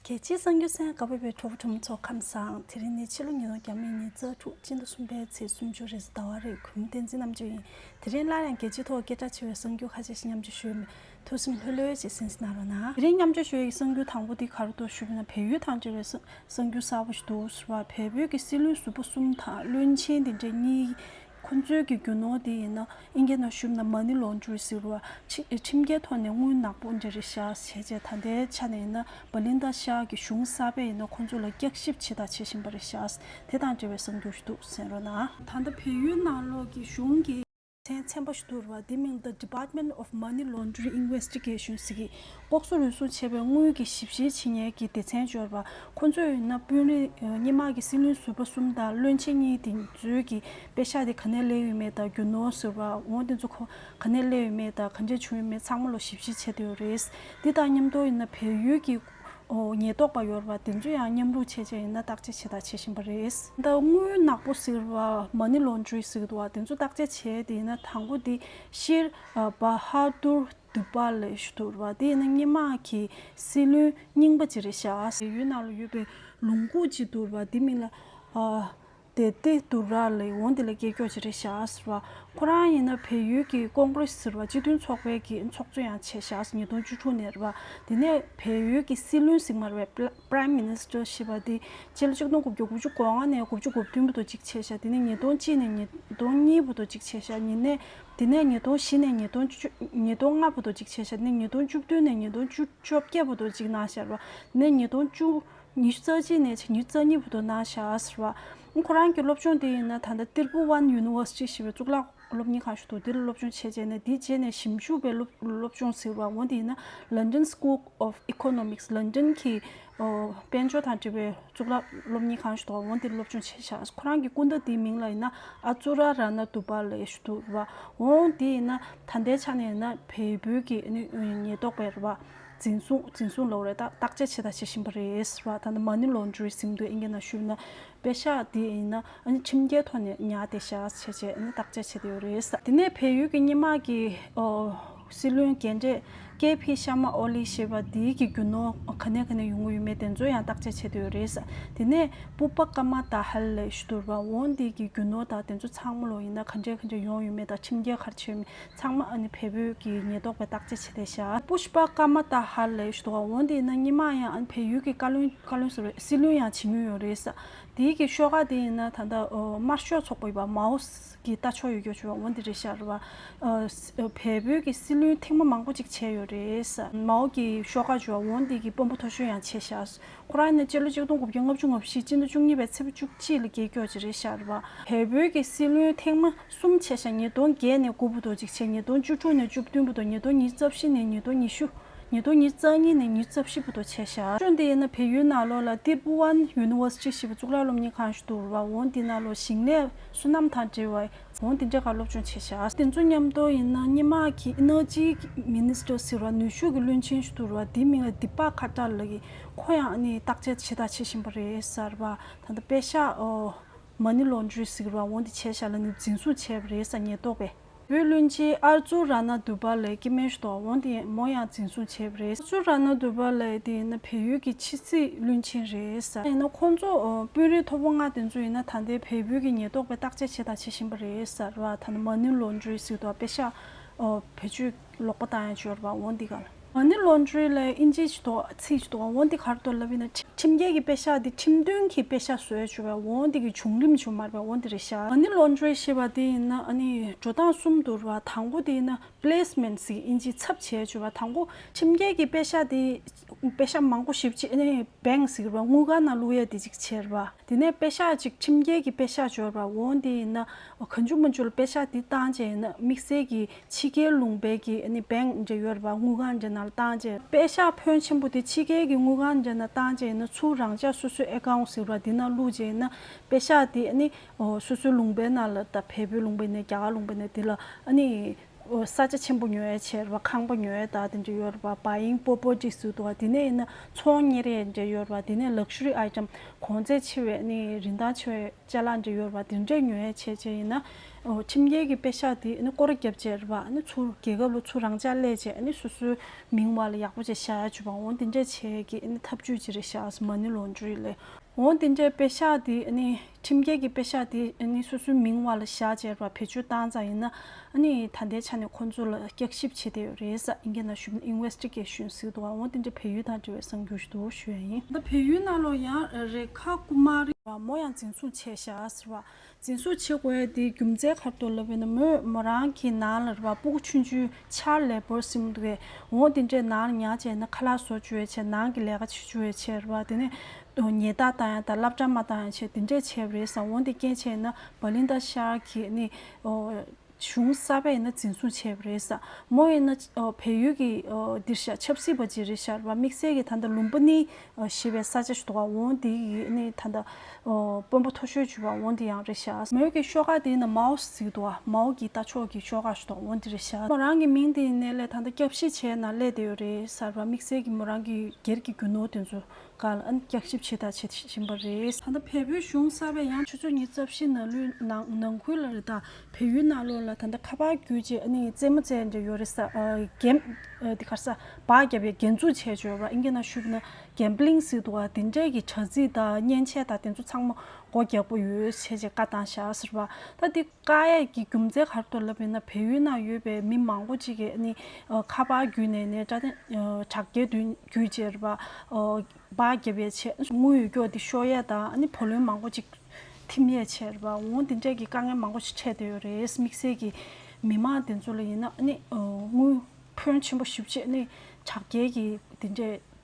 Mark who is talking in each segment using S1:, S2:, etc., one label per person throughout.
S1: རྒྱལ་སྤྱིའི་གསར་འགྱུར་ཚན་ག་བོད་པའི་གྲོགས་པོ་གྲོང་མི་ཚོ་ཁམས་བཟང་དེ་རིང་ནི་ཕྱི་ལོ་ཉིས་སྟོང་གྱ་མེད་ཉིན་གཙགས་དྲུག་སྤྱི་ཟླ་གསུམ་པའི་ཚེས་སུམ་ཅུ་རེས་ཟླ་བ་རེས་གུང་བསྟན་འཛིན་རྣམ་དཔྱོད་ཡིན་དེ་རིང་སླར་ཡང་རྒྱལ་སྤྱིའི་ཐོག་སྐད་གྲགས་ཆེ་བའི་གསར་འགྱུར་ཁ་ཤས་ཤིག་མཉམ་སྤྱོད་ཞུས་མོད་ཐུགས་སེམས་ལྷོད་ལྷོད་ཅིག་སེམས་སེ་གནང་རོགས་གནང། དེ་རིང་མཉམ་སྤྱོད་ཞུ་ཡི་གསར་འགྱུར་དང་པོ་འདི་ག་རུ་གཏོད་ཞུས་པ་ན་བལ་ཡུལ་དང་འབྲེལ་བའི་གསར་འགྱུར་གསར་པོ་ཞིག་འདུག་ཟེར་བར་བལ་བོད་ཀྱི་སྲིད་བློན་ཟུར་པ་གསུམ་དང་བློན་ཆེན་དེ་འདྲ་གཉིས་ཁོ་ཚོའི་གི་རྒྱུ་ནོར་དེ་ཡིན་ན་ཨིན་སྐད་ནང་ཞུབ་ན་མ་ཎི་ལོངས་སྤྱོད་ཟེར་བ་ཁྲིམས་འགལ་ཐོག་ནས་དངུལ་ནག་པོ་འདྲེ་རེ་བཞག་བྱས་བྱས་ད་ལྟའི་ཆ་ནས་ཡིན་ན་བ་ལིན་ད་ཤ་གི་གཞུང་གསར་པས་ཡིན་ན་ཁོ་ཚོ་ལ་བསྐྱག་ཞིབ་བྱེད་དང་བྱེད་བཞིན་པ་རེ་བཞག་དེ་དང་འབྲེལ་བའི་གསང་རྒྱུ་ཞིག་འདུག་ཟེར་རོ་ན། ད་ལྟ་བལ་ཡུལ་ནང་ལོགས་ཀྱི་གཞུང་གི། ཚན་ཚན་པ་ཞིག་འདུག་རུ་བ་དེ་མིང The Department of Money Laundry Investigation ཟེར་གི་ལྐོག་ཟ་རུལ་སུངས་བྱས་པའི་དངུལ་གྱི་ཞིབ་བཤེར་བྱེད་ཉེར་གྱི་སྡེ་ཚན་འབྱོར་པ་ཁོ་ཚོས་ཡིན་ན་དཔོན་རིགས་སྙེ་མ་གི་སྲིད་བློན་ཟུར་པ་གསུམ་དང་བློན་ཆེན་གཉིས་དེ་ཚོའི་གི་དཔེ་ཤག་དེ་ག་ནས་གླས་ཡོད་མེད་དང་རྒྱུ་ནོར་ཟུར་པ་འོང་དེ་ཚོ་ག་ནས་གླས་ཡོད་མེད་དང་ག་འདྲས་བྱུང་ཡོད་མེད་ཚང་མ་ལོ་ཞིབ་བཤེར་བྱས་དེ་ཡོད་རེད། དེ་དང་མཉམ་དུ་ཡིན་ན་བལ་ཡུལ་གྱི་ཉེས་རྟོག་པ་ཡོར་བ་དེ་ཚོ་ཡང་མཉམ་རུག་བྱས་བྱས་ཡིན་ན་བརྟག་དཔྱད་བྱེད་དང་བྱེད་བཞིན་པ་རེད། ད་དངུལ་ནག་པོ་ཟེར་བ་མ་ནི་ལོ་འཇུའི་ཟེར་བ་དེ་ཚོ་བརྟག་དཔྱད་བྱས་དེ་ཡིན་ན་དང་པོ་དེ་ཤེར་བྷ་ཧ་ཏུར་འདུག་པ་ལས་ཞུ་དུར་བ་དེ་ནི་སྙེ་མ་ཁྱི་སྲི་ལུན་རྙིང་པ་ཅི་རེ་བྱ། ཡུལ་ན་ལ་ཡོད་པའི་ལུང་ཁུག་ཅིག་དུར་བ་དེ་མིན་ལ་བསྡད་དེ་དུར་ར་ལ་ཡོང་དེ་ལ་སྐྱེལ་སྐྱོག་ཅི་རེ་བྱ་ཟེར་བ། ཁོ་རང་ཡིན་ན་བལ་ཡུལ་གྱི་ཀོང་ཀྲི་སི་ཟེར་བ་སྤྱི་མཐུན་ཚོགས་པའི་གི་ཚོགས་གཙོ་ཡང་བྱས་ཞག་ཉིས་སྟོང་བཅུ་དྲུག་ནས་རེད་བ། དེ་ནས་བལ་ཡུལ་གྱི་སྲི་ལུན་ཟིག་མར་བའི Prime Minister ཞེས་པ་དེ་སྤྱི་ལོ་ཆིག་སྟོང་དགུ་བརྒྱ་དགུ་བཅུ་གོ་ལྔ་ནས་དགུ་བཅུ་དགུ་བདུན་བོ་དོ་གཅིག་བྱས་ཞག་དེ་ནས་ཉིས་སྟོང་གཅིག་ནས་ཉིས་སྟོང་གཉིས་བོ་དོ་གཅིག་བྱས་ཞག་ཉིས་ནས་དེ་ནས་ཉིས་སྟོང་བཞི་ནས་ཉིས་སྟོང་ཉིས་སྟོང་ལྔ་བོ་དོ་གཅིག་ཕྱེད་བཞི་ནི་ཉིས་སྟོང་བཅུ་བདུན་ནས་ཉིས་སྟོང་བཅུ་བཅོ་བརྒྱད་བོ་དོ་གཅིག་ན་ཤར་བ་ནི་ཉིས་སྟོང་བཅུ་ཉི་ཤུ་རྩ་གཅིག་ནས་ཕྱེད་ཉི་ཤུ་རྩ་གཉིས་བོ་དོ་ན་ཤར་བ། ཁོ་རང་གི་སློབ་སྦྱོང་དེ་ཡིན་ན་ད་ལྟ་ཏིར་བུ་ཝན་ཡུ་ནི་ཝོར་སི་ཏི་ཞེས་པའི་གཙུག་ལག་སློབ་གཉེར་ཁང་ཞིག་ཏུ་དེ་ལ་སློབ་སྦྱོང་བྱས་རྗེས་ནས་དེའི་རྗེས་ནས་ཞིབ་འཇུག་པའི་སློབ་སྦྱོང་ཟེར་བ་འོ་དེ་ཡིན་ན London School of Economics ལོན་ཏོན་གྱི་དཔལ་འབྱོར་དང་འབྲེལ་བའི་གཙུག་ལག་སློབ་གཉེར་ཁང་ཞུ་དོགས་འོང་དེར་སློབ་སྦྱོང་བྱེད་ཤག་ཁོ་རང་གི་སྐུ་ཟླ་དེའི་མིང་ལ་ཡིན་ན་ཨ་ཙུ་ར་ར་ན་ཏུ་པ་ལའི་ཞུ་དུ་ར་འོང་དེ་ཡིན་ན་ད་ལྟའི་ཆ་ནས་ཡིན་ན་བལ་བོད་ཀྱི་ཉེན་རྟོག་པས་ར་བ་འཛིན་བཟུང་འཛིན་བཟུང་ལོག་རེད་ད་བརྟག་དཔྱད་བྱེད་དང་བྱེད་བཞིན་པ་རེད་ར་ད་ནི་མ་ཎི་ལོ་འཇུའི་གཟིམ་དུ་ཨིན་སྐད་ནང་ཞུས་ན་དཔེ་ཤག་དེ་ཡིན་ན་ཁྲིམས་འགལ་ཐོག་ནས་ཉག་དེ་ཤག་བྱས་བྱས་བརྟག་དཔྱད་བྱེད་དེ་ཡོད་རེད་ད་ནས་བལ་ཡུལ་གྱི་སྙེ་མ་གི་སྲིད་བློན་རྒན་གྲས་ཀེ་བྷི་ཤར་མ་ཨོ་ལི་ཞེས་པ་འདིའི་གི་རྒྱུ་ནོར་ག་ནས་ག་ནས་ཡོང་གི་ཡོད་མེད་དེ་ཚོ་ཡང་བརྟག་དཔྱད་བྱེད་དུ་ཡོད་རེད་ས་དེ་ནས་པུ་པ་ཀ་མ་ད་ཧལ་ལས་ཞུ་དུར་བ་འོང་འདི་གི་རྒྱུ་ནོར་དག་དེ་ཚོ་ཚང་མ་ལོ་ཡིན་ན་ག་འདྲས་ག་འདྲས་ཡོང་ཡོད་མེད་དང་ཁྲིམས་རྒྱལ་ཁར་ཆེ་ཡོད་མེད་ཚང་མ་ཨ་ནི་བལ་བོད་ཀྱི་ཉེས་རྟོག་པས་བརྟག་དཔྱད་བྱེད་དེ་ཤ། པུ་ཤ་པ་ཀ་མ་ད་ཧལ་ལས་ཞུ་དུར་བ་འོང་འདི་ཡིན་ན་སྙི་མ་ཡང་ཨ་ནི་བལ་ཡུལ་གི་བཀའ་བློན་བཀའ་བློན་ཟེར་བ་སྲིད་བློན་ཡང་བྱེད་མྱོང་ཡོད་རེད་ས་དེའི་གི་ཤོག་ཁག་དེ་ཡིན་ན་ད་ལྟ་དམར་ཤོག་ཚོགས་པ་ཡིན་པ་མའོ་གི་རྟ་མཆོག་ཡོད་རྒྱུ་བྱུང་བ་འོན་ཏེ་རེད་ཤར་བ། བལ་བོད་ཀྱི་སྲིད་བློན་ཐེངས་མ་མང་པོ་ཅིག་བྱས་ཡོད་རེད། མའོ་ཀྱི་ཤོག་ཁག་བྱུང་བ་འོན་ཏེ་ཀྱི་དཔོན་པོ་ཐོ་ཞོན་ཡང་བྱས་ཤར། ཁོ་རང་ནི་སྤྱི་ལོ་གཅིག་སྟོང་དགུ་བརྒྱ་ལྔ་བཅུ་ང་བཞི་སྤྱི་ཟླ་བཅུ་གཉིས་པའི་ཚེས་བུ་བཅུ་གཅིག་ལ་རྒྱལ་སྐྱོག་བྱས་རེད་ཤར། བལ་བོད་ཀྱི་སྲིད་བློན་ཐེངས་མ་གསུམ་བྱས་ཤར་ཉིས་སྟོང་བརྒྱད་ནས་དགུ་བུ་དོ་གཅིག་བྱས་ཉིས་སྟོང་བཅུ་དྲུག་ནས་བཅུ་བདུན་བུ་དོ་ཉིས་སྟོང་ཉིས་རྩ་བཞི་ནས་ཉིས་སྟོང་ཉི་ཤུ། ཉིས་སྟོང་ཉིས་རྩ་གཉིས་ནས་ཉིས་རྩ་བཞི་བུ་དོ་བྱས་ཤར། ཅུང་དེ་ཡིན་ན་བལ་ཡུལ་ནཱ་ལོ་ལ་ཏིར་བུ་ཝན་ཡུ་ནི་ཝོར་སི་ཅི་ཞེས་པའི་གཙུག་ལག་སློབ་གཉེར་ཁང་ཞིག་འདུག་རུ་བ་འོན་ཏེ་ནཱ་ལོ་ཞིང་ལས་བསོད་ནམས་དང་འབྲེལ་བའི་ངོ་འདི་འདྲ་ག་སློབ་སྦྱོང་བྱེད་བྱ། དེ་ཚོ་མཉམ་དུ་ཡིན་ན་སྙན་དམག་གི Energy Minister ཟེར་བ་ནུས་ཤུགས་ཀྱི་བློན་ཆེན་ཞིག་འདུག་ར་དེའི་མིང་ལ་དི་པག་ཁ་ཏར་ལགས་ཡིན་ཁོ་ཡང་ནི་བརྟག་དཔྱད་བྱེད་ཐག་བྱེད་བཞིན་པ་རེད་ཟེར་བ་ད་ལྟ་པེ་ཤ Money Laundry ཟེར་བ་ངོ་འདི་བྱེད་བྱ་ལ་ནི་འཛིན་བཟུང་བྱས་པ་རེད་ས་ཉེས་རྟོགས་པས། བོད་བློན་ཆེན་ཨར་ཙུ་ར་ནཱ་དུ་པ་ལའི་སྐྱེ་དམན་ཤོག་དབང་དེ་མོ་ཡང་འཛིན་བཟུང་བྱས་པ་རེད། ཨར་ཙུ་ར་ནཱ་དུ་པ་ལའི་དེ་ཡིན་ན་བལ་ཡུལ་གྱི་ཕྱི་སྲིད་བློན་ཆེན་རེད། ཡིན་ན་ཁོང་ཚོ་དཔོན་རིགས་མཐོ་པོ་ལྔ་དེ་ཚོ་ཡིན་ན་ད་ལྟའི་བལ་བོད་ཀྱི་ཉེན་རྟོག་པའི་བརྟག་དཔྱད་བྱས་དང་བྱེད་བཞིན་པ་རེད། ད་ནི་མ་ནུས་ལོ་འགྲོའི་ཟིག་ཏུ་ཨ་པེ་ཤ་བོད་ཆོས་ལོག་པ་དང་ཡང་བཅོལ་བ་འོང་འདི་ག་ལ། ང་ནི་བློ་འདྲི་ལས་ཨིན་ཇི་ཆི་དོ་ཚིག་ཆི་དོ་ཨོ་འདི་གར་དོ་ལབ་ཨི་ན་ཁྲིམས་རྒྱལ་གྱི་དཔེ་ཤག་འདི་ཁྲིམས་དོན་གྱི་དཔེ་ཤག་བཟོས་བྱུ་བས་ཨོ་འདི་གི་བྱུང་རིམ་བྱུ་མར་བས་ཨོ་འདི་རེ་ཤ། ང་ནི་བློ་འདྲི་ཞེས་པ་འདི་ཡིན་ན་ཨ་ནི་འགྲོ་སྟངས་གསུམ་དུ་རུ་བ་དང་པོ་འདི་ཡིན་ན placement སི་ཨིན་ཇི་ཚབ་བྱས་བྱུ་བ་དང་པོ་ཁྲིམས་རྒྱལ་གྱི་དཔེ་ཤག་འདི་དཔེ་ཤག་མང་པོ་ཞིབ་ཅིག་ཨི bank སི་རུ་བ་དངུལ་གང་ན་བླུག་ཡས་འདི་ཅིག་ཆེར་བ་འདི་ནས་དཔེ་ཤག་ཅིག་ཁྲིམས་རྒྱལ་གྱི་དཔེ་ཤག་འབྱོར་བ་ཨོ་འདི་ཡིན་ན་ཨོ་ག་འཇུ་མ་འཇུ་ལ་དཔེ་ཤག་འདི་བཏང་བྱས་ཡིན་ན་དམིགས་བསལ་གྱི་ཕྱི་རྒྱལ་ལུང་པའི་གི་ནི་བེང་འབྲེ་ཡོད་ར་བ་དངུལ་གང་འབྲེ་ནལ་ཏང་འབྲེ། པའི་ཤ་ཕོན་ཆེན་པོ་དེ་ཕྱི་རྒྱལ་གི་དངུལ་གང་འབྲེ་ནལ་ཏང་འབྲེ་ནི་ཚུར་རང་ཅག་སོ་སོའི་ཨེ་ཀའོང་ཟེར་བ་དེ་ནང་བླུགས་རྗེས་ནི་པའི་ཤ་དེ་ནི་སོ་སོའི་ལུང་པའི་ནང་ལ་ད་བལ་བོའི་ལུང་པའི་ནས་རྒྱ་གར་ལུང་པའི་ནས་དེ་ལ་ནི་ས་ཆ་ཆེན་པོ་ཉོ་ཡ་ཆེ་ར་བ་ཁང་པ་ཉོ་ཡ་དག་དེ་འབྲེ་ཡོད་ར་བ་བ་ཡིང་པོ་པོ་ཏྲི་སུ་དུ་བ་དེ་ནས་ཡིན་ན་ཚོང་གཉེར་ཡ་འབྲེ་ཡོད་ར་བ་དེ་ནས Luxury Item གོང་ཚད་ཆེ་བའི་ནི་རིན་ཐང་ཆེ་བའི་ལྕེ་ལ་འབྲེ་ཡོད་ར་བ་དེ་འབྲེ་ཉོ་ཡ་ཆེ་ཆེ་ཡིན་ན་ཁྲིམས་འགལ་གྱི་དཔེ་ཤག་འདི་སྐོར་རྒྱབ་རྗེས་རེད་པ་ཚུར་རྒྱལ་ཁབ་ལ་ཚུར་རང་འཇགས་སླད་ཅེས་སོ་སོའི་མིང་བར་ལ་ཡག་པོ་ཅིག་བཞག་ཡ་ཆུ་བ་འོ་འདི་འདྲའི་བྱས་ཀྱི་ཐབས་ཇུས་ཅི་རེད་ཤག་མ་ནི་ལོ་འཇུ་ཡི་ལེ། འོ་འདི་འདྲའི་དཔེ་ཤག་འདི་ཁྲིམས་འགལ་གྱི་དཔེ་ཤག་འདི་སོ་སོའི་མིང་བར་ལ་བཞག་ཅེས་རེད་པ་བེད་སྤྱོད་བཏང་ཙང་ཡིན་ན་ད་ལྟའི་ཆ་ནས་ཁོ་ཚོ་ལ་བསྐྱག་ཞིབ་བྱེད་བསྡད་ཡོད་རེད་ས་ཨིན་གྱི་ན་གཞོན Investigation ཟེར་འདུག་འོ་འདི་འདྲའི་བལ་ཡུལ་དང་འབྲེལ་བའི་གསང་རྒྱུ་ཞིག་འདུག་ཞུ་ཡ་ཡིན། ད་བལ་ཡུལ་ནང་ལོ་ཡང་རེ་ཁ་རྐུ་མ་རེད། མོ་ཡང་འཛིན་བཟུང་བྱས་ཤག་ཟེར་བ་འཛིན་བཟུང་བྱེད་དགོས་ཡས་དེའི་རྒྱུ་མཚན་ཁ་ཏོ་ལབ་ཡས་ན་མོས་མོ་རང་གི་ནང་ལ་ར་བ་སྤུ་གུ་ཆུན་ཆུན་ཆར་ལས་བོར་ཟིན་མོ་འདུག་ཡས་འོང་དེ་འདྲས་ནང་ལ་ཉག་བྱས་ན་ཁ་ལག་བཟོ་བཅུ་ཡས་བྱས་ནང་གི་ལས་ཀ་བྱེད་བཅུ་ཡས་བྱས་ར་བ་དེ་ནས་ཉེས་རྟགས་བཏང་ཡས་དང་བསླབ་གྲ་མ་བཏང་ཡས་བྱས་དེ་འདྲས་བྱས་པ་རེད་བསམ་འོང་དེ་སྐྱེན་བྱས་ཡས་ན་བ་ལིན་ཏ་ཤར་གྱི་ནི་གཞུང་གསར་པ་ཡིན་ན་འཛིན་བཟུང་བྱས་པ་རེད་ས་མོ་ཡིན་ན་བལ་ཡུལ་གྱི་འདིར་བཞག་ཆབ་སྲིད་པ་ཅིག་རེད་ཤར་བ་དམིགས་བསལ་གྱི་ད་ལྟ་ལུང་པ་ནི་ཞེས་པའི་ས་ཆ་ཞུ་བ་འོང་འདི་ནི་ད་ལྟ་དཔོན་པོ་ཐོ་ཤོད་ཅུ་བ་འོང་འདི་ཡང་རེད་ཤར་བ་མོ་གི་ཤོག་ཁག་དེ་ནི་མའོ་ཞེས་ཟིག་འདུག་བ་མའོ་གྱི་ལྟ་ཕྱོགས་ཀྱི་ཤོག་ཁག་ཞུ་བ་འོང་འདི་རེད་ཤར་བ་མོ་རང་གི་མིང་དེ་ནི་ལས་ད་ལྟ་སྐྱབས་གཞི་བྱས་ན་ལས་དེ་ཡོད་རེད་ཤར་བ་དམིགས་བསལ་གྱི་མོ་རང་གི་སྒེར་གྱི་རྒྱུ་ནོར་དེ་ཚོ་ཀ་ལ་བསྐྱར་ཞིབ་བྱེད་ཐབས་བྱེད་བཞིན་པ་རེད། ད་ལྟ་བལ་བོའི་གཞུང་གསར་བས་ཡང། ཆུ་ཚོད་གཉིས་རྩ་བཞི་ནང་ལོའི་ནང་ཁུལ་ལ་རེ་དང་བལ་ཡུལ་ནང་ལོ་ལ་ད་ལྟ་ཁ་པར་བརྒྱུད་ཅེས་ཨ་ནེ་ཡིས་རྩེད་མོ་རྩེད་ཀྱི་ཡོད་རེད་ས་གེམ་དེ་གར་ས་བག་བརྒྱབ་ཡ་རྒན་འཛུགས་བྱས་བྱོས་པར་ཨིན་ཀེ་ན་ཤུག་ན་གེམ་པིལིང་སི་ཏུ་བ་དེ་འདྲས་ཀྱི་དྲ་ཚིགས་དང་མཉེན་ཆས་དང་དེ་ཚོ་ཚང་མ་སྒོ་རྒྱག་པོ་ཡོད་བྱས་ཅེས་བཀའ་བཏང་བཞག་ཟེར་བ་ད་དེ། བཀའ་ཡས་ཀྱི་རྒྱུ་མཚན་གར་དུ་ལབ་ཡོད་ན་བལ་ཡུལ་ན་ཡོད་པའི་མི་མང་པོ་ཅིག་གིས་ནི་ཁ་པར་བརྒྱུད་ནས་ནི་དྲ་རྒྱའི་བརྒྱུད་ཅེར་བ་སྦག་བརྒྱབ་ཡས་ཆེ། དངུལ་ཡོད་སྐྱོ་དེ་ཤོར་ཡས་དང་བུ་ལོན་མང་པོ་ཅིག་ཐིམ་ཡས་ཆེ་རེད་པ་འོང་དེ་འདྲས་ཀྱི་དཀའ་ངལ་མང་པོ་ཞིག་འཕྲད་དེ་ཡོད་རེད་དམིགས་བསལ་གྱི་མི་མང་དེ་ཚོ་ལ་ཡིན་ན་ནི་དངུལ་ཕོན་ཆེན་པོ་ཞིབ་ཆེད་ནི་དྲ་རྒྱའི་གི་དེ་འདྲས་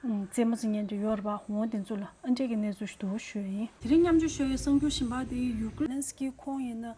S1: རྩེད་མོ་རྩེ་ཉན་དུ་ཡོད་རེད་པ་འོང་དེ་ཚོ་ལ་ཨ་འབྲེ་གི་གནས་ཚུལ་ཞུ་དོ་ཞུ་ཡིན། དེ་རིང་མཉམ་འཇོག་ཤོ་ཡའི་གསང་རྒྱུ་ཤིན་པ་དེ་ཡུ་ཀི་ལན་སི་ཀི་ཁོང་ཡིན་ན།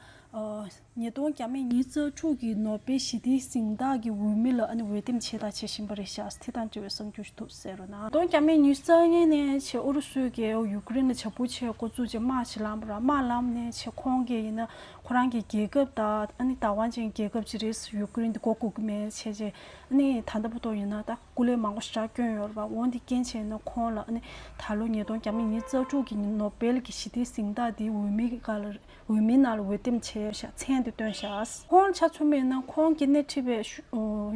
S1: ཉིས་སྟོང་གྱ་མེད་ཉིན་གཙག་ཕྲུག་གི་ནོ་སྦེལ་ཞི་བདེའི་གཟེངས་རྟགས་ཀྱི་འོས་མི་ལ་ཨ་ནི་འོས་འདེམས་བྱས་དང་བྱེད་བཞིན་པ་རེད་ཤག་དེ་དང་འབྲེལ་བའི་གསང་རྒྱུ་ཞུ་ཐུབ་ཟེར་རོ་ན། ཉིས་སྟོང་གྱ་མེད་ཉིན་གཙག་ངན་ནས་བྱས་ཨུ་རུ་སུ་གས་ཡུ་ཀི་རེན་ལ་བྱ་འཕུར་ཆས་འགོ་བཙུགས་རྗེས་དམག་ཕྱི་ལམ་པོ་ར་དམག་ལམ་ནས་བྱས་ཁོང་གས་ཡིན་ན་ཁོ་རང་གི་རྒྱལ་ཁབ་དང་ཨ་ནི་དང་བ་ཅན་རྒྱལ་ཁབ་ཅིག་རེད་ཡུ་ཀི་རེན་དེ་འགོ་འགུག་གི་མེད་བྱས་རྗེས་ཨ་ནི་ད་ལྟ་བུ་ཐོག་ཡིན་ན་ད། སྐུ་ལས་མང་པོ་ཞིག་ར་བསྐྱོན་ཡོད་རེད་པ་འོན་ཏེ་རྐྱེན་བྱས་ན་ཁོང་ལ་ནི་ད་ལོ་ཉིས་སྟོང་གྱ་མ་ཉིས་རྩ་དྲུག་གི་ནོ་སྦེལ་གྱི་ཞི་བདེའི་གཟེངས་རྟགས་དེའི་འོས་མི་ག་ལ་རེད་འོས་མི་ནང་ལ་འོས་འདེམས་བྱས་ཤག་མཚན་དེ་སྟོན་ཤག། ཁོང་ལ་ཆ་མཚོན་མེད་ན་ཁོང་གི་སྣེ་ཁྲིད་པའི་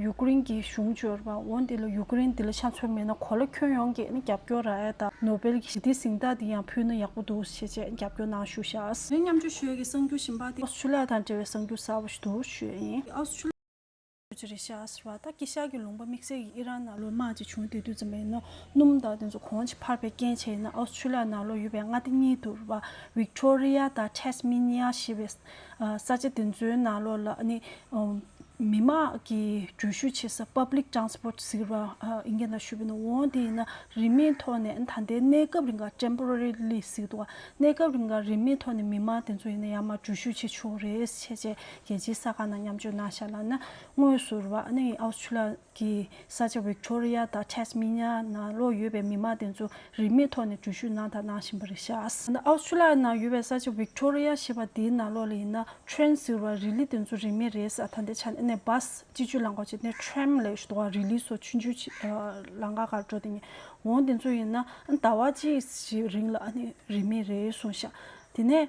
S1: ཡུ་ཀེ་རིན་གྱི་གཞུང་བཅོས་རེད་པ་འོན་ཏེ་ཡུ་ཀེ་རིན་འདི་ལ་ཆ་མཚོན་མེད་ན་གོ་ལ་ཁྱོན་ཡོངས་ཀྱིས་ནི་རྒྱབ་སྐྱོར་ར་ཨེ་ད་ནོ་སྦེལ་གྱི་ཞི་བདེའི་གཟེངས་རྟགས་དེ་ཡང་ཕུལ་ན་ཡག་པོ་འདུག་ཞེས་བཅས་རྒྱབ་སྐྱོར་གནང་ཞུ་ཤག། ངས་མཉམ་སྤྱོད་ཤོས་ཀྱི་གསར་འགྱུར་ཞིབ་འབངས་དེ། ཨོ་སི་ཁྲུ་ལི་ཡ་དང་འབྲེལ་བའི་གསར་འགྱུར་གསར་བ་ཞིག་ཏུ་ཞུ་ཡས་ཡིན། ཨོ་སི་ཁྲུ། ཇི་རི་ཤཱ་ཟེར་བ་ཏར་ཀི་ཤར་གྱི་ལུང་པ་དམིགས་བསལ་གྱིས་ཨི་རན་ནག་ལོའི་དམག་ཅིག་བྱུང་དེ་དུས་ཙམ་ལ་ཡིན་ནོ། སྣུམ་དང་དེ་ཚོ་གོང་གི་འཕར་པའི་རྐྱེན་བྱས་ཡིན་ན་ཨོ་སི་ཁྲུ་ལི་ཡ་ནག་ལོ་ཡོད་པའི་མངའ་སྡེ་གཉིས་དུ་རུ་བ་ཝིག་ཏོ་རི་ཡ་དང་ཏེས་མི་ནི་ཡ་ཞེས་པའི་ས་ཆ་དེ་ཚོའི་ནག་ལོ་ལ་ནི་མི་དམངས་ཀྱི་འགྲུལ་བཞུད་བྱེད་ས Public Transport ཟེར་བ་ཨི་འགན་དང་ཞུས་པ་ནི་འོང་དེ་ཡིན་ན་རིན་མེད་ཐོག་ནས་ད་ལྟའི་གནས་སྐབས་རིང་གར Temporary Lease ཟེར་གྱི་འདུག་གནས་སྐབས་རིང་གར་རིན་མེད་ཐོག་ནས་མི་དམངས་དེ་ཚོ་ཡིན་ན་ཡང་མ་འགྲུལ་བཞུད་བྱེད་ཆོག་རེད་བྱས་རྗེས་རྒྱལ་སྤྱིའི་ས་ཁང་ནང་མཉམ་སྤྱོད་གནང་བཞག་ལ་ན་དངོས་སུ་ར་ནེ་ཡི་ཨའོ་སི་ཁྲུ་ལ་གི་ས་ཆ་ཝིག་ཏོ་རི་ཡ་དང་ཐེ་སི་མི་ནེ་ཡ་ནང་ལོག་ཡོད་པའི་མི་དམངས་དེ་ཚོ་རིན་མེད་ཐོག་ནས་འགྲུལ་བཞུད་གནང་དང་གནང་བཞིན་པ་རེད་བཞག་ཨ་ཨའོ་སི་ཁྲུ་ལ་ནང་ཡོད་པའི་ས་ཆ་ཝིག་ཏོ་རི་ཡ་ཞེས་པ་དེའི་ནང་ལོག་ལ་ཡིན་ན་ཁྲོན་ཟེར་བ་རི་ལི་དེ་ཚོ་རིན་མེད་རེད་ས་ད་ལྟའི་ཆ་ནས་སྦ་སྤྱི་སྤྱོད་ལང་ཀོ་བྱས་ཏེ་ཁྲོན་ལེ་ཞུ་ཏོ་རི་ལི་སོགས་ཆུ་འཇུ་ལང་ཀ་གར་འགྲོ་དེ་ཉི་འོང་དེ་ཚོ་ཡིན་ན་ཟླ་བ་གཅིག་གི་རིང་ལ་རིན་མེད་རེད་གསུངས་བཞག་དེ་ནས།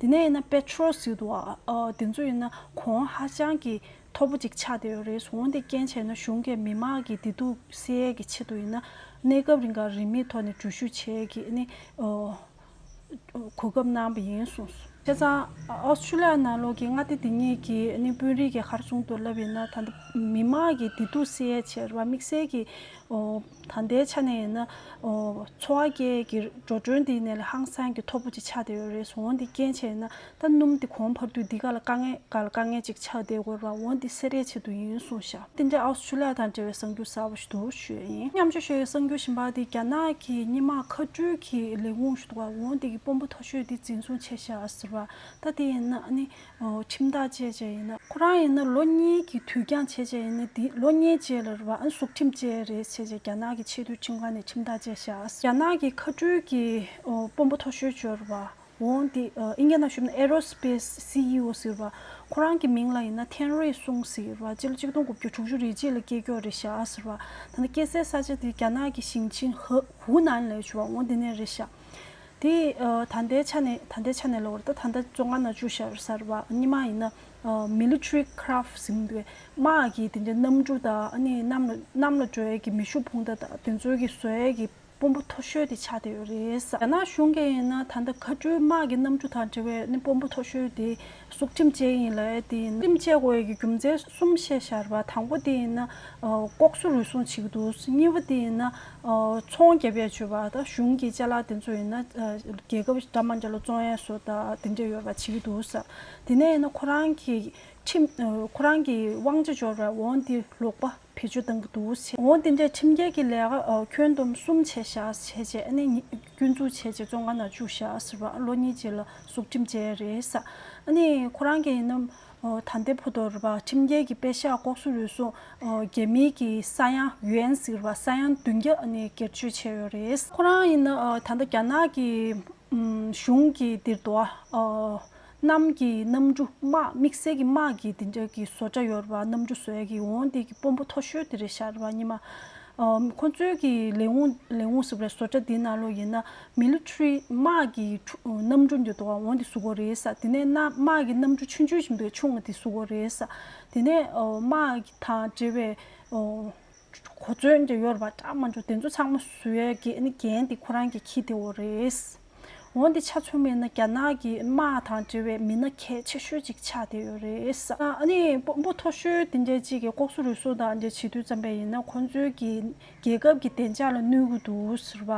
S1: དེ་ནས་ཡིན་ན་པེ་ཏྲོ་རོ་སི་ཏུ་ཨ་དེ་ཚོ་ཡིན་ན་གོང་ཧ་ཅང་གི་མཐོ་པོ་ཅིག་ཆགས་བསྡད་ཡོད་རེད་གཟུགས་འདི་རྐྱེན་བྱས་ན་གཞུང་གི་མི་དམངས་ཀྱི་བདེ་སྡུག་བསལ་ཡས་ཀྱི་ཆེད་དུ་ཡིན་ན་གནས་སྐབས་རིང་གར་རིན་མེད་ཐོག་ནས་འགྲུལ་བཞུད་བྱས་ཡས་ཀྱི་ནི་གོ་སྐབས་གནང་བ་ཡིན་གསུངས། བྱས་ཙང་ཨོ་སི་ཏྲུ་ལི་ཡ་ནང་ལོགས་ཀྱི་མངའ་སྡེ་དེ་གཉིས་ཀྱི་ནི་དཔོན་རིགས་ཀྱི་ཧར་བཟུང་དུ་ལབ་ཡིན་ན་ད་ལྟ་མི་དམངས་ཀྱི་བདེ་སྡུག་བསལ་ཡས་ཆེད་ར་དམིགས་བསལ་གྱི་ད་ལྟའི་ཆ་ནས་ཡིན་ན། འཚོ་བ་སྐྱེལ་གྱི་འགྲོ་གྲོན་འདི་ནས་ལ་ཧང་སང་གི་མཐོ་པོ་ཅིག་ཆགས་བསྡད་ཡོད་རེད་སོང་འོ་འདི་སྐྱེན་ཆེད་ཡིན་ན་ད་སྣུམ་འདི་གོང་འཕར་དུས་འདི་ག་ལ་དཀའ་ངལ་ག་ལ་དཀའ་ངལ་ཅིག་ཆགས་བསྡད་དགོས་པ་འོ་འདི་སེ་རའི་ཆེད་དུ་ཡིན་སོང་ཤག་འདི་འདྲའི་ཨའོ་སུ་ལི་ཡ་དང་འབྲེལ་བའི་གསང་རྒྱུ་ཟབ་པོ་ཞིག་འདུག་ཞུས་ཡིན་མཉམ་ཞུ་ཞུ་ཡི་གསང་རྒྱུ་ཞིམ་པ་འདི་རྒྱ་ནག་གི་སྙེ་མ་ཁ་སྤྲུལ་གྱི་ལས་ཁུངས་ཞུ་འདུག་བ་འོ་འདི་གི་དཔོན་པོ་མཐོ་ཤོས་འདི་འཛིན་བཟུང་བྱས་ཤག་ཟེར་བ་ད་འདི་ཡིན་ན་ནི། ཁྱིམ་བདག་བཅས་བཅས་ཡིན་ན། ཁོ་རང་ཡིན་ན་ལོ་གཉིས་ཀྱི་དུས་འགྱངས་བྱས་བྱས་ཡིན་ན་འདི་ལོ་གཉིས་བཅས་ལ་རེད་བ་ཨང་གཟུགས་ཁྲིམས་བཅས་རེད་བྱས་བྱས་རྒྱ་ནག་གི་ཆེས་མཐོའི་ཁྲིམས་ཁང་ནས་ཁྱིམ་བདག་བཅས་བཞག་རྒྱ་ནག་གི་མཁའ་འགྲུལ་གྱི་དཔོན་པོ་མཐོ་ཤོས་བཅོལ་བ་འོང་འདི་ཨིན་རྒྱ་ནག་ཞུབ་ན Aerospace CEO ཟེར་བ་ཁོ་རང་གི་མིང་ལ་ཡིན་ན་ཐེན་རེ་སུང་ཟེར་བ་སྤྱི་ལོ་གཅིག་སྟོང་དགུ་བརྒྱ་དྲུག་ཅུ་རེ་གཅིག་ལ་སྐྱེས་མཆོག་རེད་བཞག་ཟེར་བ་ད་ནི་སྐྱེས་སའི་ས་ཆ་འདི་རྒྱ་ནག་གི་ཞིང་ཆིན་ཧུ་ནན་ལས་བྱུང་བ་འོང་འདི་ནས་རེད་བཞག། དེ་ད་ལྟའི་ཆ་ནས་ད་ལྟའི་ཆ་ནས་ལོར་ད་ལྟ་བཅོ་ལྔ་ན་བཅུ་ཞར་སར་བ་ཉི་མ་ཡིན་ན Military Craft ཟིན་པའི་དམག་གི་དེ་འདྲའི་གནམ་གྲུ་དང་གནམ་ལ་གནམ་ལ་བགྲོད་ཀྱི་མེ་ཤུགས་འཕུང་མདའ་དང་དེ་ཚོའི་གི་ཟོལ་གྱི་དཔོན་པོ་མཐོ་ཤོས་དེ་ཆགས་བསྡད་ཡོད་རེད། རྒྱ་ནག་གཞུང་གི་ཡིན་ན་ད་ལྟ་མཁའ་འགྲུལ་དམག་གི་གནམ་གྲུ་དང་འབྲེལ་བའི་དཔོན་པོ་མཐོ་ཤོས་དེ་གཟུགས་ཁྲིམས་བཅས་ཡིན་ལ་དེ་ཡིན་ན་ཁྲིམས་བཅད་དབོས་ཀྱི་རྒྱུ་མཚན་གསུམ་བཤད་ཤར་བ་དང་པོ་དེ་ཡིན་ན་ལྐོག་གསོད་རུལ་སུངས་བྱེད་ཀྱི་འདུག་གཉིས་པ་དེ་ཡིན་ན་ཚོང་རྒྱབ་ཡ་བྱོས་པ་དང་གཞུང་གི་ལྕེ་ལག་དེ་ཚོ་ཡིན་ན་རྒྱལ་ཁབ་འདྲ་མ་འདྲ་ལ་བཙོང་ཡ་སོགས་དང་དེ་འདྲ་ཡོད་པ་བྱེད་ཀྱི་འདུག་ས་དེ་ནས་ཡིན་ན་ཁོ་རང་གི་ཁྲིམས་ཁོ་རང་གི་དབང་ཆ་འབྱོར་བས་འོང་འདི་ལོག་པ། བེད་སྤྱོད་དང་དུ་བྱས་འོང་དེ་འདྲའི་ཁྲིམས་འགལ་གྱི་ལས་ཀ་ཁྱོན་བསྡོམས་གསུམ་བྱས་བཞག་བྱས་རྗེས་སྐྱོན་འཛུགས་བྱས་རྗེས་བཙོན་ཁང་ནང་བཅུག་བཞག་ཟེར་བ་ལོ་གཉིས་རྗེས་ལ་སྲོག་ཁྲིམས་བཅད་རེས་ཁོ་རང་གི་ནམ་ད་ལྟའི་བུ་དོར་བ་ཁྲིམས་འགལ་གྱི་དཔེ་ཤག་ལྐོག་སུ་རུལ་སུངས་རྒྱལ་མི་གྱི་ས་ཡང་ཡོན་ཟེར་བ་ས་ཡང་བདུན་བརྒྱ་སྒེར་སྤྱོད་བྱས་ཡོད་རེད། ཁོ་རང་ཡིན་ན་ད་ལྟ་རྒྱ་ནག་གི་གཞུང་གིས་འདིར་དུ་བ། གནམ་གྱི་གནམ་གྲུ་དམག་དམིགས་བསལ་གྱི་དམག་གིས་དེ་འདྲ་གི་བཟོ་གྲྭ་ཡོད་རེད་པ་གནམ་གྲུ་བཟོས་གི་འོང་དེ་གི་དཔོན་པོ་མཐོ་ཤོས་དེ་རེད་ཤག་རེད་པ་གཉིས་མ་ཁོ་ཚོའི་གི་ལས་འོང་ལས་འོང་ཟེར་བ་རེད་བཟོ་གྲྭ་དེ་ནང་ལོག་ཡིན་ན Military དམག་གི་གནམ་གྲུ་འདི་དོ་འོང་དེ་བཟོ་གོ་རེད་ཟ་དེ་ནས་ན་དམག་གི་གནམ་གྲུ་ཆུང་ཆུང་ཞིག་འདུག་ཆུང་ང་དེ་བཟོ་གོ་རེད་ཟ་དེ་ནས་དམག་གི་དང་འབྲེལ་བའི་གོ་མཚོན་གྱི་ཡོར་བ་འདྲ་མ་འཇུག་དེ་ཚོ་ཚང་མ་བཟོས་རྒྱན་ནི་རྒྱན་དེ་ཁོ་རང་གི་ཁྱི་དེ་འོ་རེད། འོ་འདི་ཆ་ཚུགས་མེད་ན་རྒྱ་ནག་གི་དམག་དང་འབྲེལ་བའི་མི་སྣ་གལ་ཆེ་ཤོས་གཅིག་ཆགས་བསྡད་ཡོད་རེད། ཨ་ནི་དཔོན་པོ་མཐོ་ཤོས་དེ་འདྲས་གཅིག་གིས་ལྐོག་སུ་རུལ་སུ་དང་འདྲས་བྱེད་དུས་བརྩམས་པས་ཡིན་ན་ཁོ་ཚོའི་གི་རྒྱལ་ཁབ་ཀྱི་བདེ་འཇགས་ལ་གནོད་གི་འདུག་ཟེར་བ།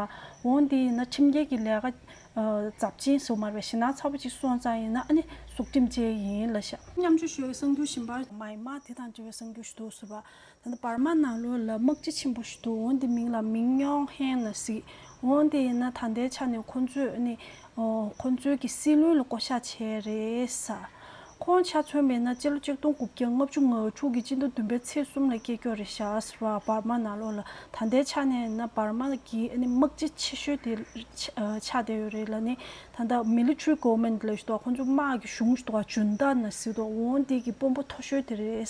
S1: འོ་འདི་ཡིན་ན་ཁྲིམས་འགལ་གྱི་ལས་ཀ་ཛབ་ཅིང་ཟེར་མར་བའི་ཞེ་སྣང་ཚ་བོ་གཅིག་སོང་ཙང་ཡིན་ན་ཨ་ནི་གཟུགས་ཁྲིམས་ཅན་ཡིན་ལ་ཤ། མཉམ་ཆུ་ཤོས་གསང་རྒྱུ་བཞིན་པར། མ་ཡིན་མ་དེ་དང་འབྲེལ་བའི་གསང་རྒྱུ་ཞིག་འདུག་ཟེར་བ། འདི་བར་མ་ནང་ལོ་ལ་དམག་སྤྱི་ཆེན་པོ་ཞིག་འདུག་འོན་ཏེ་མིང་ལ་མིང་སྨྱོང་ཧན་ལ་གཟིགས། འོན་ཏེ་ཡིན་ན་ད་ལྟའི་ཆ་ནས་ཁོ་ཚོས་ནི། ཁོ་ཚོའི་གི་སྲིད་ལུས་ལ་བསྐོ་བཞག་བྱས་རེད། ཁོང་ཆ་མཚོན་པའི་ན་སྤྱི་ལོ་གཅིག་སྟོང་དགུ་བརྒྱ་ལྔ་བཅུ་ང་དྲུག་གི་སྤྱི་ཟླ་བདུན་པའི་ཚེས་གསུམ་ལ་སྐྱེས་སྐྱོ་རེད་ཤགས་པ་བར་མ་ནང་ལོ་ལ་ད་ལྟའི་ཆ་ནས་ན་བར་མ་གི་དམག་སྤྱི་ཆེ་ཤོས་དེ་ཆགས་བསྡད་ཡོད་རེད་ལ་ནི་ད་ལྟ Military Government ལས་གཏོགས་ཁོང་ཚོ་དམག་གི་གཞུང་གཏོགས་ཨ་ཇུན་ཏཱ་ན་སི་གཏོགས་འོང་འདི་གི་དཔོན་པོ་མཐོ་ཤོས་དེ་རེད།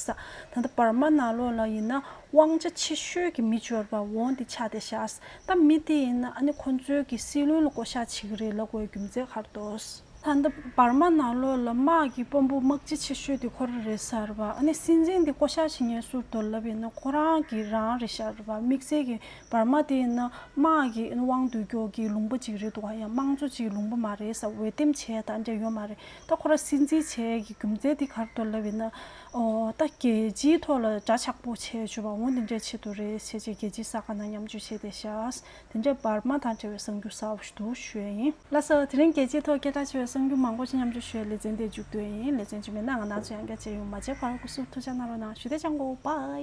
S1: ད་ལྟ་འབར་མ་ནག་ལོག་ལ་ཡིན་ན་དབང་ཆ་ཆེ་ཤོས་ཀྱི་མི་འབྱོར་པ་འོང་འདི་ཆགས་དེ་བཞག་ད་མི་དེ་ཡིན་ན་ཨ་ནི་ཁོང་ཚོའི་གི་སྲིད་བློན་ལ་བསྐོ་བཞག་བྱེད་གི་རེད་ལབ་དགོས་རྒྱུ་མཛད་གར་འདོགས། ད་ལྟ་འབར་མ་ནག་ལོག་ལ་དམག་གི་དཔོན་པོ་དམག་སྤྱི་ཆེ་ཤོས་དེ་ཁོ་ར་རེད་ཟེར་བ་ཨ་ནི་སྲིད་འཛིན་དེ་བསྐོ་བཞག་བྱེད་ངེས་ཟུར་དོར་ལབ་ཡིན་ན་ཁོ་རང་གི་རང་རེད་ཤར་བ་དམིགས་བསལ་གི་བར་མ་དེ་ཡིན་ན་དམག་གི་དབང་སྡུད་སྐྱོར་གྱི་ལུང་པ་གཅིག་རེད་འདུག་ག་ཡང་དམངས་གཙོ་གཅིག་ལུང་པ་མ་རེད་ས་འོས་འདེམས་བྱས་ད་འདྲ་ཡོད་མ་རེད་ད་ཁོ་ར་སྲིད་འཛིན་བྱས་ཀྱི་རྒྱུ་མཚན་དེ་གར་དུ་ལབ་ཡིན་ན་ཨོ་ད་རྒྱལ་སྤྱིའི་ཐོག་ལ་དགྲ་ཆགས་པོ་བྱས་བྱུས་པ་འོ་འདི་འདྲའི་ཆེད་དུ་རེད་བྱས་བྱས་རྒྱལ་སྤྱིའི་ས་ག་ན་མཉམ་སྤྱོད་བྱས་ཏེ་ཤཱས་དེ་འདྲའི་བར་མ་དང་བྲལ་བའི་གསང་རྒྱུ་ཟབ་བཞུ་དུ་ཞོས་ཡིན། ལ་སོ་དེ་རིང་རྒྱལ་སྤྱིའི་ཐོག་སྐད་གྲགས་ཆེ་བའི་གསང་རྒྱུ་མང་པོ་ཅིག་མཉམ་སྤྱོད་ཞོས་ལེ་ཚན་དེ་འཇུག་འདོད་ཡིན་ལེ་ཚན་འཇུག་མེད་ན་ང་ནག་ཆུ་ཡང་བརྒྱ་བྱས་ཡོང་མ་བྱས་བར་སྐུ་གསུང་ཐུགས་འཇགས་གནང་རོགས་གནང་ཞུ་བདེ་ཅང་གོ bye།